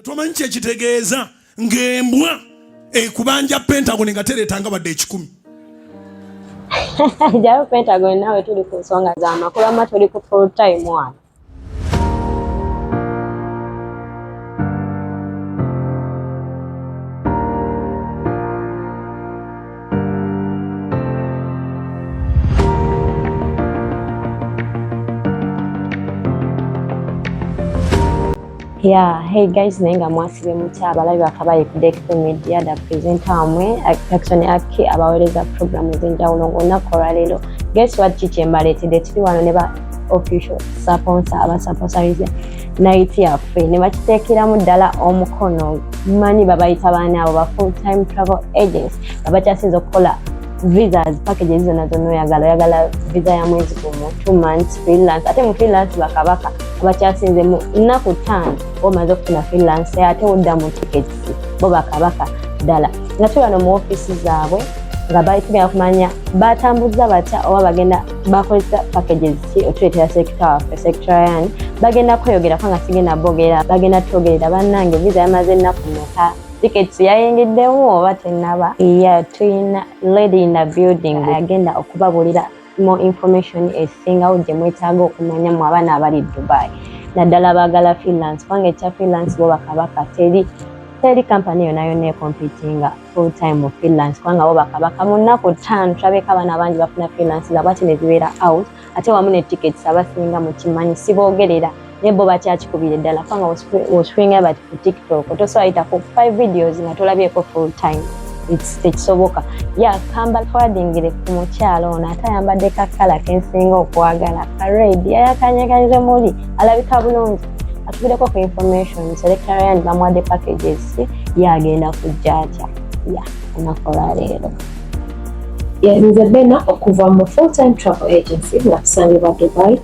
tomanyi kyekitegeeza ng'embwa ekubanja pentagon nga tereetanga wadde ekikumi jayo pentagon nawe tuli ku nsonga z'amakubama tuli ku full time wano Yeah, hey guys, naye nga mwasibe mutya abalabi bakabaye ku Deck Media da presenter wamwe Jackson Aki abawereza program ez'enjawulo ng'olunaku olwaleero. Guess what ki kye mbaleetedde tuli wano ne ba official sponsor abasponsorizza night yaffe ne bakiteekeramu ddala omukono manyi babayita baana abo ba full time travel agents babakyasinza okukola visas packages zonna zonna oyagala oyagala visa ya mwezi gumu two months freelance ate mu freelance bakabaka kuba kyasinze mu nnaku ttaano omaze okufuna freelance ate odda mu tickets bo bakabaka ddala nga tuli wano mu ofiisi zaabwe nga baitugenda kumanya batambuza batya oba bagenda bakozesa packages ki otuleetera sekita waffe sectarian bagenda kweyogerako nga sigenda boogera bagenda twogerera bannange visa yamaze ennaku meka tickets yayingiddewo oba tenaba ya tulina lady in the building agenda okubabulira more information esingawo gye mwetaaga okumanya mu abaana abali dubai naddala baagala freelance kubanga ekya freelance bo bakabaka teri teri kampani yona yona ekompitinga full time mu freelance kubanga bo bakabaka mu nnaku ttaano tulabeeko abaana bangi bafuna freelance zabwaki ne zibeera out ate wamu ne tickets abasinga mukimanyi siboogerera naye bo bakyakikubire ddala kubanga oswinga bati ku tiktok tosobola yitako five videos nga tolabyeko full time tekisoboka ya kamba twadingire ku mukyalo ono ate ayambadde kakala kensinga okwagala kared yayakanyakanyize muli alabika bulungi atubireko ku information selectarian bamuwadde packages ye agenda kujja atya ya anakola leero nze bena okuva mu full time travel agency nga tusangibwa dubai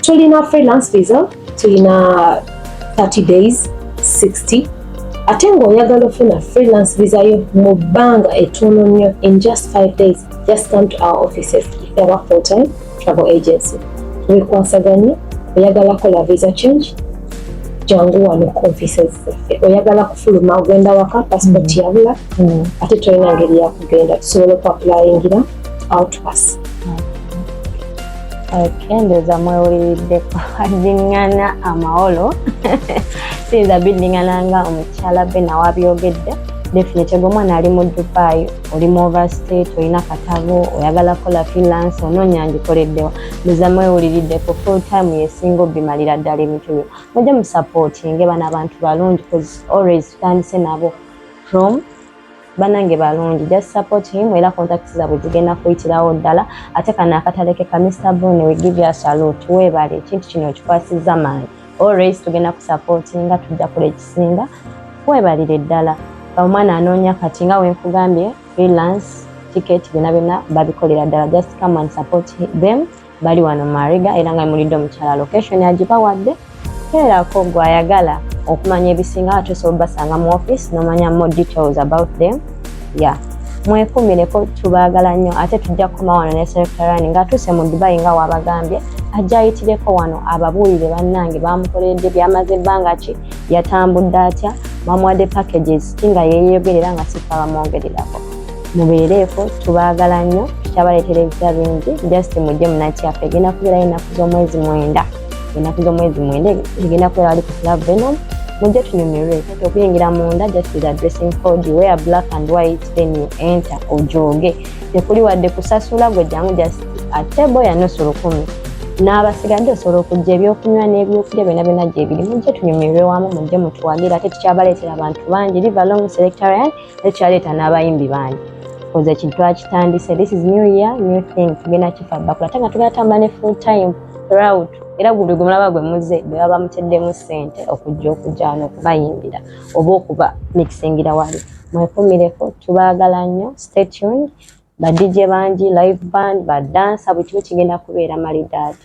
tulina freelance visa tulina 30 days 60 ate ng'oyagala ofuna freelance visa yo mu bbanga ettono nnyo in just 5 days just come to our offices aba full time travel agency tubikwasaganye oyagala kola visa change jangu wano ku offices zaffe oyagala kufuluma ogenda waka passport mm. yabula mm. ate tolina ngeri yakugenda tusobola okuapulayingira outpass Kendeeza mwewuliriddeko addingana amawolo siyinza biddingana nga omukyala be nawe abyogedde definitely gwomwana ali mu dubai oli mu overstate olina katabo oyagala kukola freelance onoonya ngikoleddewa ndoza mwewuliriddeko full time yesinga obimalira ddala ebintu byo mujja musapootinge bano abantu balungi always tutandise nabo from banange balungi just support him era contact zabwe zigenda kuyitirawo ddala ate kano akataleke ka Mr Bone we give you salute webale ekintu kino okikwasizza maanyi always tugenda kusupportinga tujja kula ekisinga webalire ddala omwana anoonya kati nga wenkugambye freelance ticket byona byona babikolera ddala just come and support them bali wano mariga era nga mulidde omukyala location agibawadde teerako gwe ayagala okumanya ebisinga ate osobola obasanga mu office nomanya more details about them ya mwekumireko tubaagala nnyo ate tujja kukoma wano ne serekitarani ngaatuuse mu dubayi nga waabagambye ajja ayitireko wano ababuulire bannange baamukoleredde byamaze ebbanga ki yatambudde atya bamuwadde packages ki nga yeeyogerera nga sifa bamwogererako mubeereeko tubaagala nnyo kyabaleetera ebisa bingi just mujje munakyaffe egenda kubeerayo ennaku z'omwezi mwenda ennaku z'omwezi mwenda egenda kubeera wali ku club venom mujje tunyumirwe kati okuyingira munda just is addressing code where black and white then you enter ojooge tekuli wadde kusasula gwe jangu just a table ya nusu lukumi n'abasigadde osobola okujja ebyokunywa n'ebyokulya byona byona gyebiri mujje tunyumirwe wamu mujje mutuwagire ate tukyabaleetera abantu bangi live along selectarian ekyaleeta n'abayimbi bangi koze ekintu twakitandise this is new year new thing tugenda kifa bakula ate nga tugenda tamba ne full time throughout era guli gwe mulaba gwe muze bwe baba muteddemu ssente okujja okujja wano okubayimbira oba okuba mikisingira wali mwekumireko tubaagala nnyo stay tuned badijje bangi live band badansa buli kimu kigenda kubeera malidaadi